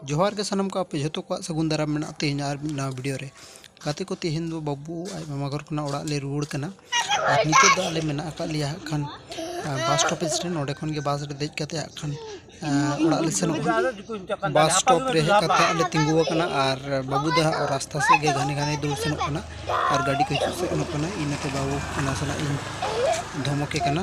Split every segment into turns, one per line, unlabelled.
ᱡᱚᱦᱟᱨ ᱜᱮ ᱥᱟᱱᱟᱢ ᱠᱚ ᱟᱯᱮ ᱡᱷᱚᱛᱚ ᱠᱚᱣᱟᱜ ᱥᱟᱹᱜᱩᱱ ᱫᱟᱨᱟᱢ ᱢᱮᱱᱟᱜᱼᱟ ᱛᱮᱦᱮᱧ ᱟᱨ ᱢᱤᱫ ᱱᱟᱣᱟ ᱵᱷᱤᱰᱤᱭᱳ ᱨᱮ ᱜᱟᱛᱮ ᱠᱚ ᱛᱮᱦᱮᱧ ᱫᱚ ᱵᱟᱹᱵᱩ ᱟᱡ ᱢᱟᱢᱟ ᱜᱷᱚᱨ ᱠᱷᱚᱱᱟᱜ ᱚᱲᱟᱜ ᱞᱮ ᱨᱩᱣᱟᱹᱲ ᱠᱟᱱᱟ ᱟᱨ ᱱᱤᱛᱚᱜ ᱫᱚ ᱟᱞᱮ ᱢᱮᱱᱟᱜ ᱟᱠᱟᱫ ᱞᱮᱭᱟ ᱦᱟᱸᱜ ᱠᱷᱟᱱ ᱵᱟᱥ ᱥᱴᱚᱯᱮᱡᱽ ᱨᱮ ᱱᱚᱰᱮ ᱠᱷᱚᱱ ᱜᱮ ᱵᱟᱥ ᱨᱮ ᱫᱮᱡ ᱠᱟᱛᱮ ᱦᱟᱸᱜ ᱠᱷᱟᱱ ᱚᱲᱟᱜ ᱞᱮ ᱥᱮᱱᱚᱜᱼᱟ ᱵᱟᱥ ᱥᱴᱚᱯ ᱨᱮ ᱦᱮᱡ ᱠᱟᱛᱮ ᱟᱞᱮ ᱛᱤᱸᱜᱩ ᱟᱠᱟᱱᱟ ᱟᱨ ᱵᱟᱹᱵᱩ ᱫᱚ ᱦᱟᱸᱜ ᱨᱟᱥᱛᱟ ᱥᱮᱫ ᱜᱮ ᱜᱷᱟᱱᱮ ᱜᱷᱟᱱᱮ ᱫᱩᱲᱩᱵ ᱥᱮᱱᱚᱜ ᱠᱟᱱᱟ ᱟᱨ ᱜᱟᱹᱰᱤ ᱠᱚ ᱦᱤᱡᱩᱜ ᱥᱮᱱᱚᱜ ᱠᱟᱱᱟ ᱤᱱᱟᱹᱛᱮ ᱵᱟᱹᱵᱩ ᱱᱟᱥᱮᱱᱟᱜ ᱤᱧ ᱫᱷᱚᱢᱚᱠᱮ ᱠᱟᱱᱟ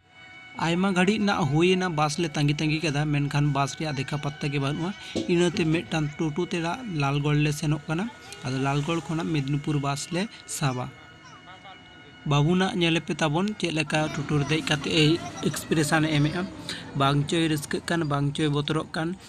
ᱟᱭᱢᱟ ᱜᱷᱟᱹᱲᱤᱡ ᱨᱮᱱᱟᱜ ᱦᱩᱭ ᱮᱱᱟ ᱵᱟᱥ ᱞᱮ ᱛᱟᱺᱜᱤ ᱛᱟᱺᱜᱤ ᱠᱮᱫᱟ ᱢᱮᱱᱠᱷᱟᱱ ᱵᱟᱥ ᱨᱮᱭᱟᱜ ᱫᱮᱠᱷᱟ ᱯᱟᱛᱛᱟ ᱜᱮ ᱵᱟᱹᱱᱩᱜᱼᱟ ᱤᱱᱟᱹᱛᱮ ᱢᱤᱫᱴᱟᱝ ᱴᱳᱴᱳ ᱛᱮ ᱱᱟᱜ ᱞᱟᱞᱜᱚᱲ ᱞᱮ ᱥᱮᱱᱚᱜ ᱠᱟᱱᱟ ᱟᱫᱚ ᱞᱟᱞᱜᱚᱲ ᱠᱷᱚᱱᱟᱜ ᱢᱮᱫᱽᱱᱤᱯᱩᱨ ᱵᱟᱥ ᱞᱮ ᱥᱟᱵᱟ ᱵᱟᱹᱵᱩ ᱱᱟᱜ ᱧᱮᱞ ᱯᱮ ᱛᱟᱵᱚᱱ ᱪᱮᱫ ᱞᱮᱠᱟ ᱴᱳᱴᱳ ᱨᱮ ᱫᱮᱡ ᱠᱟᱛᱮ ᱮᱭ ᱮᱠᱥᱯᱨᱮᱥᱟᱱ ᱮ ᱮᱢᱮᱜᱼᱟ ᱵᱟᱝ ᱪᱚᱭ ᱨᱟᱹᱥᱠᱟᱹᱜ ᱠᱟᱱ ᱵᱟᱝ ᱪᱚᱭ ᱵᱚᱛᱚᱨᱚᱜ ᱠᱟᱱ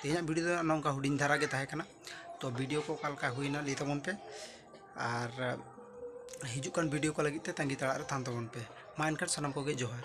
ᱛᱮᱦᱮᱧᱟᱜ ᱵᱷᱤᱰᱤᱭᱳ ᱫᱚ ᱱᱚᱝᱠᱟ ᱦᱩᱰᱤᱧ ᱫᱷᱟᱨᱟ ᱜᱮ ᱛᱟᱦᱮᱸ ᱠᱟᱱᱟ ᱛᱚ ᱵᱷᱤᱰᱤᱭᱳ ᱠᱚ ᱚᱠᱟ ᱞᱮᱠᱟ ᱦᱩᱭᱱᱟ ᱞᱟᱹᱭ ᱛᱟᱵᱚᱱ ᱯᱮ ᱟᱨ ᱦᱤᱡᱩᱜ ᱠᱟᱱ ᱵᱷᱤᱰᱤᱭᱳ ᱠᱚ ᱞᱟᱹᱜᱤᱫ ᱛᱮ ᱛᱟᱺᱜᱤ ᱛᱟᱲᱟᱜ ᱨᱮ ᱛᱟᱦᱮᱱ ᱛᱟᱵᱚᱱ ᱯᱮ ᱢᱟ ᱮᱱᱠᱷᱟᱱ ᱥᱟᱱᱟᱢ ᱠᱚᱜᱮ ᱡᱚᱦᱟᱨ